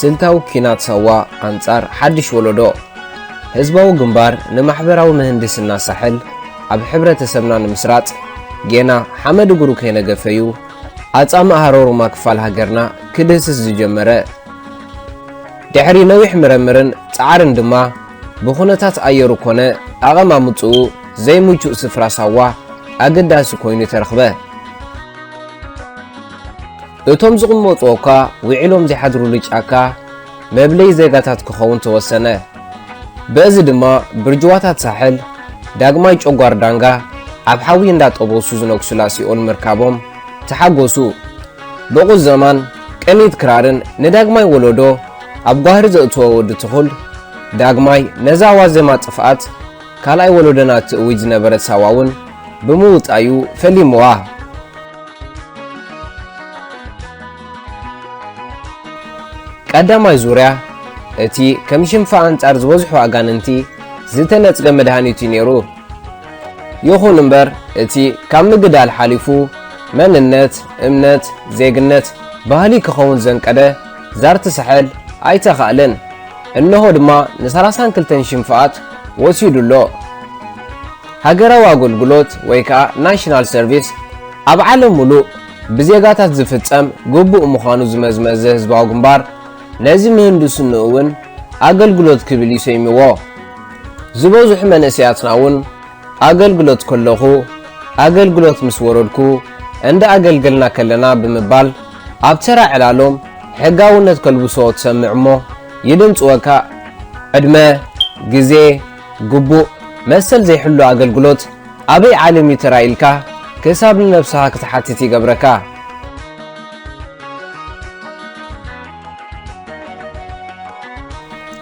ስልታዊ ኲናት ሳዋ ኣንጻር ሓድሽ ወለዶ ህዝባዊ ግንባር ንማሕበራዊ ምህንድስና ሳሕል ኣብ ሕብረተሰብና ንምስራጽ ጌና ሓመድ እግሩ ከይነገፈ'ዩ ኣጻምእ ሃሮሩማ ክፋል ሃገርና ክድህስስ ዝጀመረ፣ ድሕሪ ነዊሕ ምረምርን ጻዕርን ድማ ብኩነታት ኣየሩ ኮነ ኣቐማምጥኡ ዘይምቹእ ስፍራ ሳዋ ኣገዳሲ ኮይኑ ተረኽበ። እቶም ዝቕመጡ እኳ ውዒሎም ዘይሓድሩሉ ጫካ፣ መብለዪ ዜጋታት ክኸውን ተወሰነ። በእዚ ድማ ብርጅዋታት ሳሕል ዳግማይ ጨጓር ዳንጋ ኣብ ሓዊ እንዳጠበሱ ዝነግሱላ ሲኦል ምርካቦም ተሓጎሱ። ብቑዘማን ቅኒት ክራርን ንዳግማይ ወለዶ ኣብ ጓህሪ ዘእትወ ወዲ ትኹል ዳግማይ ነዛ ዋዜማ ጥፍኣት ካልኣይ ወለዶና ትእውጅ ዝነበረት ሳዋ'ውን ብምውጣዩ ፈሊሙዋ። ቀዳማይ ዙርያ እቲ ከም ሽንፋ ኣንጻር ዝበዝሑ ኣጋንንቲ ዝተነጽገ መድሃኒት እዩ ነይሩ። ይኹን እምበር እቲ ካብ ምግዳል ሓሊፉ መንነት፣ እምነት፣ ዜግነት፣ ባህሊ ክኸውን ዘንቀደ ዛርቲ ሳሕል ኣይተኻእለን። እነሆ ድማ ንሰላሳን ክልተን ሽንፋኣት ወሲዱ ኣሎ። ሃገራዊ ኣገልግሎት ወይ ከኣ ናሽናል ሰርቪስ ኣብ ዓለም ምሉእ ብዜጋታት ዝፍጸም ግቡእ ምዃኑ ዝመዝመዘ ህዝባዊ ግንባር፣ ነዚ ምህንድስንኡ እውን ኣገልግሎት ክብል እዩ ሰይምዎ። ዝበዝሑ መንእሰያትና እውን ኣገልግሎት ከለኹ፣ ኣገልግሎት ምስ ወረድኩ፣ እንዳ ኣገልገልና ከለና ብምባል ኣብ ተራ ዕላሎም ሕጋውነት ከልብሶ ትሰምዕ እሞ ይድንጽወካ። ዕድመ፣ ግዜ፣ ግቡእ መሰል ዘይሕሉ ኣገልግሎት፣ ኣበይ ዓለም እዩ ተራ ኢልካ ክሳብ ንነብስኻ ክትሓትት ይገብረካ።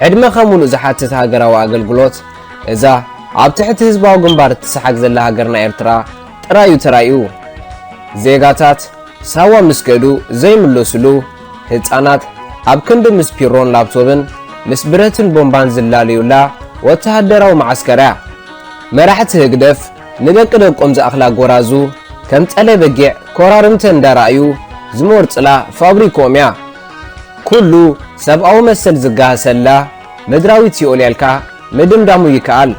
ዕድመኻ ሙሉእ ዝሓትት ሃገራዊ ኣገልግሎት እዛ ኣብ ትሕቲ ህዝባዊ ግንባር እትሰሓግ ዘላ ሃገርና ኤርትራ ጥራይ እዩ ተራእዩ። ዜጋታት ሳዋ ምስ ከዱ ዘይምለሱሉ፣ ህጻናት ኣብ ክንዲ ምስ ፒሮን ላፕቶብን ምስ ብረትን ቦምባን ዝላለዩላ ወተሃደራዊ መዓስከር እያ። መራሕቲ ህግደፍ ንደቂ ደቆም ዝኣኽላ ጎራዙ ከም ጸለ በጊዕ ኮራርምተን እንዳረኣዩ ዝሞርጽላ ፋብሪክኦም'ያ። ኩሉ ሰብኣዊ መሰል ዝጋሃሰላ ምድራዊት ሲኦል'ያ ኢልካ ምድምዳሙ ይከኣል።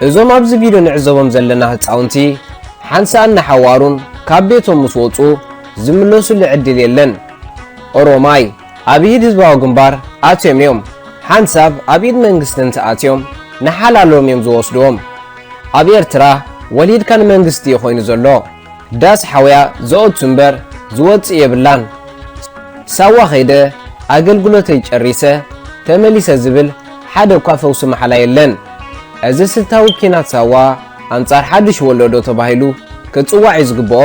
እዞም ኣብዚ ቪድዮ ንዕዘቦም ዘለና ህጻውንቲ ሓንሳእን ንሓዋሩን ካብ ቤቶም ምስ ወጹ ዝምለሱሉ ዕድል የለን። ኦሮማይ። ኣብ ኢድ ህዝባዊ ግንባር ኣትዮም እዮም ሓንሳብ ኣብ ኢድ መንግስቲ እንተ ኣትዮም ንሓላሎም እዮም ዝወስድዎም ኣብ ኤርትራ ወሊድካ ንመንግስቲ እዩ ኮይኑ ዘሎ ዳስ ሓውያ ዘኦቱ እምበር ዝወጽእ የብላን ሳዋ ከይደ ኣገልግሎተይ ጨሪሰ ተመሊሰ ዝብል ሓደ እኳ ፈውሲ ማሕላ የለን እዚ ስልታዊ ኪናት ሳዋ ኣንጻር ሓዱሽ ወሎዶ ተባሂሉ ክጽዋዕ እዩ ዝግብኦ።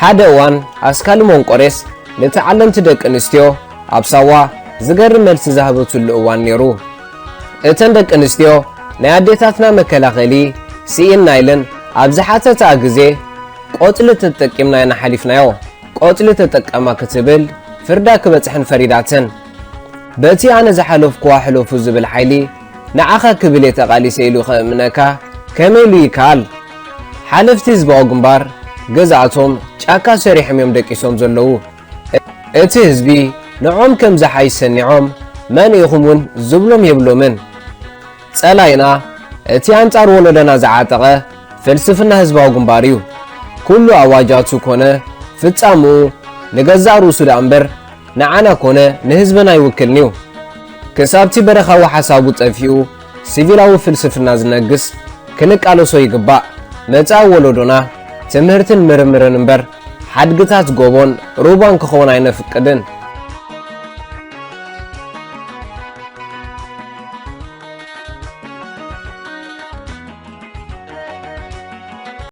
ሓደ እዋን ኣስካል ሞንቆሬስ ንተዓለምቲ ደቂ ኣንስትዮ ኣብ ሳዋ ዝገርም መልሲ ዝሃበትሉ እዋን ነይሩ። እተን ደቂ ኣንስትዮ ናይ ኣዴታትና መከላኸሊ ስኢንና ኢለን ኣብ ዝሓተትኣ ግዜ ቆጽሊ ተጠቂምና ኢና ሓሊፍናዮ፣ ቆጽሊ ተጠቀማ ክትብል ፍርዳ ክበጽሐን ፈሪዳተን። በቲ ኣነ ዝሓለፍኩዋ ሕለፉ ዝብል ሓይሊ ንዓኻ ክብል እየ ተቓሊሰ ኢሉ ከእምነካ ከመይ ኢሉ ይከኣል? ሓለፍቲ ህዝባዊ ግንባር ገዛእቶም ጫካ ሰሪሖም እዮም ደቂሶም ዘለዉ። እቲ ህዝቢ ንዖም ከም ዝሓይሽ ሰኒዖም መን ኢኹም እውን ዝብሎም የብሎምን። ጸላኢና እቲ ኣንጻር ወሎደና ዝዓጠቐ ፍልስፍና ህዝባዊ ግንባር እዩ። ኩሉ ኣዋጃቱ ኮነ ፍጻምኡ ንገዛእ ርእሱ ደኣ እምበር፣ ንዓና ኮነ ንህዝብና ኣይውክልን'ዩ። ክሳብ'ቲ በረኻዊ ሓሳቡ ጠፊኡ ሲቪላዊ ፍልስፍና ዝነግስ ክንቃለሶ ይግባእ። መጻኢ ወለዶና ትምህርትን ምርምርን እምበር ሓድግታት ጎቦን ሩባን ክኸውን ኣይነፍቅድን።